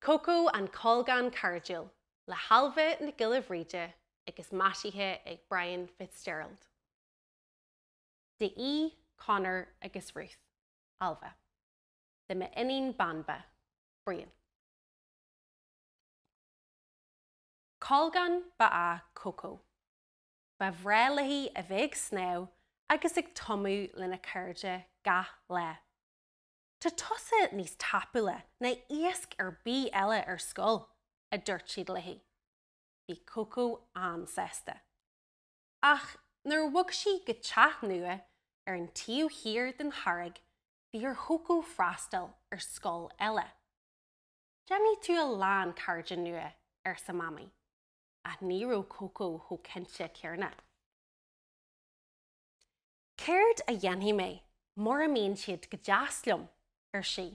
Cócó an Colgán Cairdiúil le hAilbhe Nic Giolla Bhrighde agus maisithe ag Brian Fitzgerald. Do Conor agus Ruth, Ailbhe. Do m'iníon Banba, Brian. Colgán ba ea Cócó. Ba bhreá léi a bheith ag snámh agus ag tumadh lena cairde gach lá. Tá tusa níos tapúla ná iasc ar bith eile ar scoil! a dúirt siad léi. Bhí Cócó an-sásta. Ach nuair a bhog sí go teach nua ar an taobh thiar den charraig, bhí ar Chócó freastal ar scoil eile. 'Déanfaidh tú a lán cairde nua, arsa Mamaí. Ach ní raibh Cócó chomh cinnte céanna. 'Céard a dhéanfaidh mé mura mbíonn siad go deas liom? ar sí.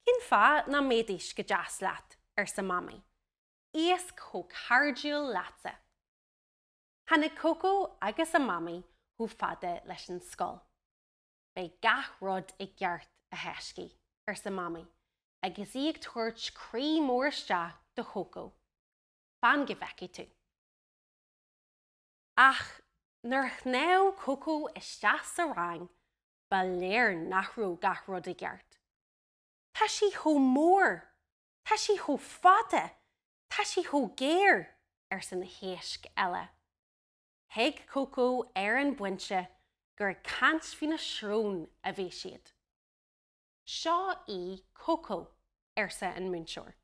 'Cén fáth nach mbeidís go deas leat? arsa Mamaí. 'Iasc chomh cairdiúil leatsa! Tháinig Cócó agus a Mamaí chomh fada leis an scoil. Beidh gach rud i gceart, a thaiscidh, arsa Mamaí, agus í ag tabhairt croí mór isteach do Chócó. Fan go bhfeicfidh tú. Ach nuair a shnámh Cócó isteach sa rang, ba léir nach raibh gach rud i gceart. Tá sí chomh mór! Tá sí chomh fada! Tá sí chomh géar! arsa na héisc eile. Thuig Cócó ar an bpointe gur ag caint faoina srón a bhí siad. Seo í Cócó, arsa an múinteoir.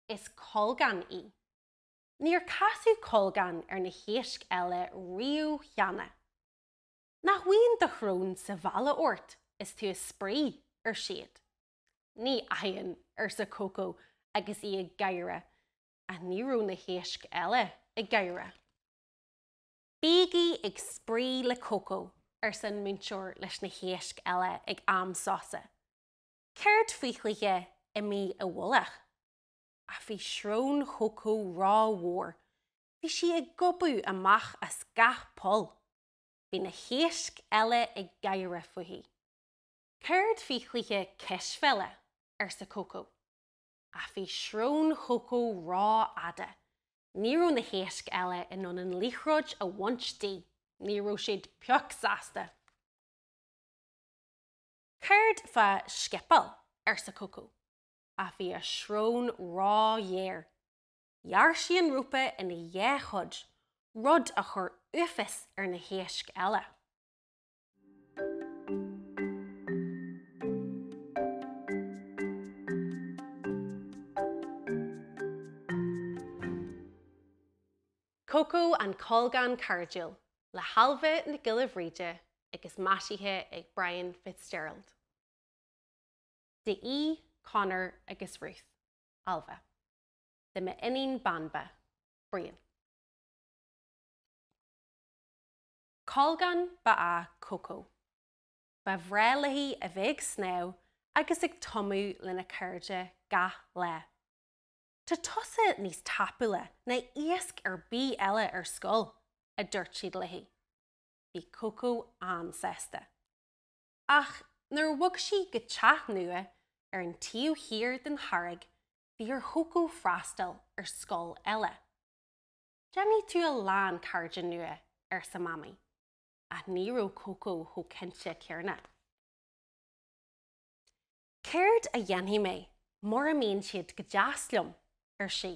Is colgán í. Níor casadh colgán ar na héisc eile riamh cheana. Nach bhfaigheann do shrón sa bhealach ort is tú ag spraoi, ar siad. Ní fhaigheann, arsa Cócó agus í ag gáire, ach ní raibh na héisc eile ag gáire. Bígí ag spraoi le Cócó, arsa an múinteoir leis na héisc eile ag am sosa. Céard faoi chluiche Imigh i bhFolach? Ach bhí srón Chócó rómhór, bhí sí ag gobadh amach as gach poll. Bhí na héisc eile ag gáire fúithi. Céard faoi chluiche Cispheile? arsa Cócó. Ach bhí srón Chócó rófhada. Ní raibh na héisc eile in ann an liathróid a bhaint di. Ní raibh siad pioc sásta. Céard fá scipeáil? arsa Cócó. Ach bhí a srón róghéar. Ghearr sí an rópa ina dhá chuid, rud a chuir uafás ar na héisc eile. Cócó an Colgán Cairdiúil le hAilbhe Nic Giolla Bhrighde agus maisithe ag Brian Fitzgerald. Do Conor agus Ruth, Ailbhe. Do m'iníon Banba, Brian. Colgán ba ea Cócó. Ba bhreá léi a bheith ag snámh agus ag tumadh lena cairde gach lá. Tá tusa níos tapúla ná iasc ar bith eile ar scoil! a dúirt siad léi. Bhí Cócó an-sásta. Ach nuair a bhog sí go teach nua ar an taobh thiar den charraig, bhí ar Chócó freastal ar scoil eile. 'Déanfaidh tú a lán cairde nua, arsa Mamaí. Ach ní raibh Cócó chomh cinnte céanna. 'Céard a dhéanfaidh mé mura mbíonn siad go deas liom? ar sí.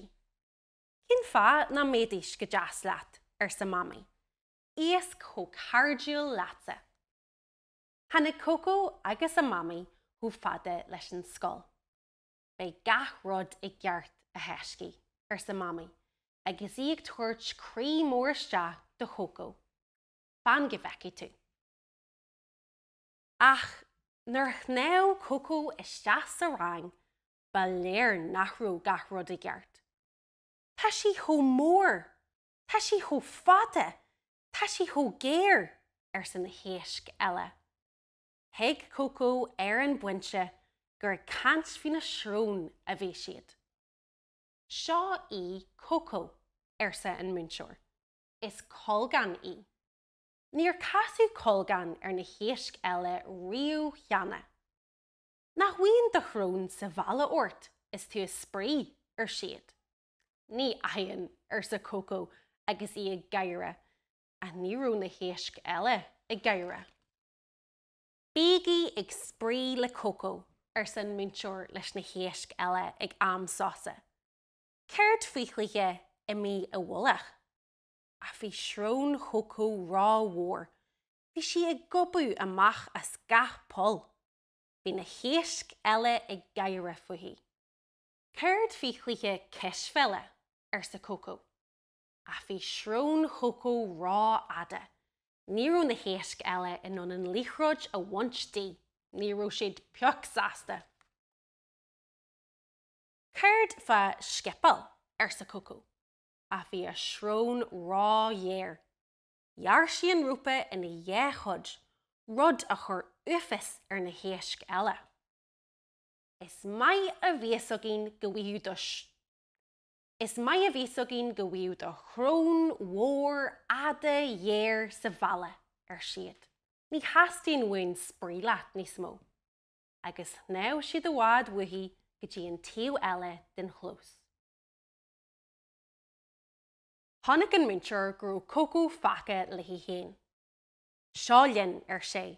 'Cén fáth nach mbeidís go deas leat? arsa Mamaí. 'Iasc chomh cairdiúil leatsa! Tháinig Cócó agus a Mamaí chomh fada leis an scoil. Beidh gach rud i gceart, a thaiscidh, arsa Mamaí, agus í ag tabhairt croí mór isteach do Chócó. Fan go bhfeicfidh tú. Ach nuair a shnámh Cócó isteach sa rang, ba léir nach raibh gach rud i gceart. Tá sí chomh mór! Tá sí chomh fada! Tá sí chomh géar! arsa na héisc eile. Thuig Cócó ar an bpointe gur ag caint faoina srón a bhí siad. Seo í Cócó, arsa an múinteoir. Is colgán í. Níor casadh colgán ar na héisc eile riamh cheana. Nach bhfaigheann do shrón sa bhealach ort is tú ag spraoi, ar siad. Ní fhaigheann, arsa Cócó agus í ag gáire, ach ní raibh na héisc eile ag gáire. Bígí ag spraoi le Cócó, arsa an múinteoir leis na héisc eile ag am sosa. Céard faoi chluiche imigh i bhfolach? Ach bhí srón Chócó rómhór, bhí sí ag gobadh amach as gach poll. Bhí na héisc eile ag gáire fúithi. Céard faoi chluiche cispheile? arsa Cócó. Ach bhí srón Chócó rófhada. Ní raibh na héisc eile in ann an liathróid a bhaint di. Ní raibh siad pioc sásta. Céard fá scipeáil? arsa Cócó. Ach bhí a srón róghéar. Ghearr sí an rópa ina dhá chuid, rud a chuir uafás ar na héisc eile. Is maith a bhí a fhios againn go bhfaigheadh do sh. Is maith a bhí a fhios againn go bhfaigheadh do shrón mhór fhada ghéar sa bhealach, ar siad. Ní theastaíonn uainn spraoi leat níos mó. Agus shnámh siad i bhfad uaithi go dtí an taobh eile den chlós. Chonaic an múinteoir go raibh Cócó fágtha léi féin. Seo linn, ar sé.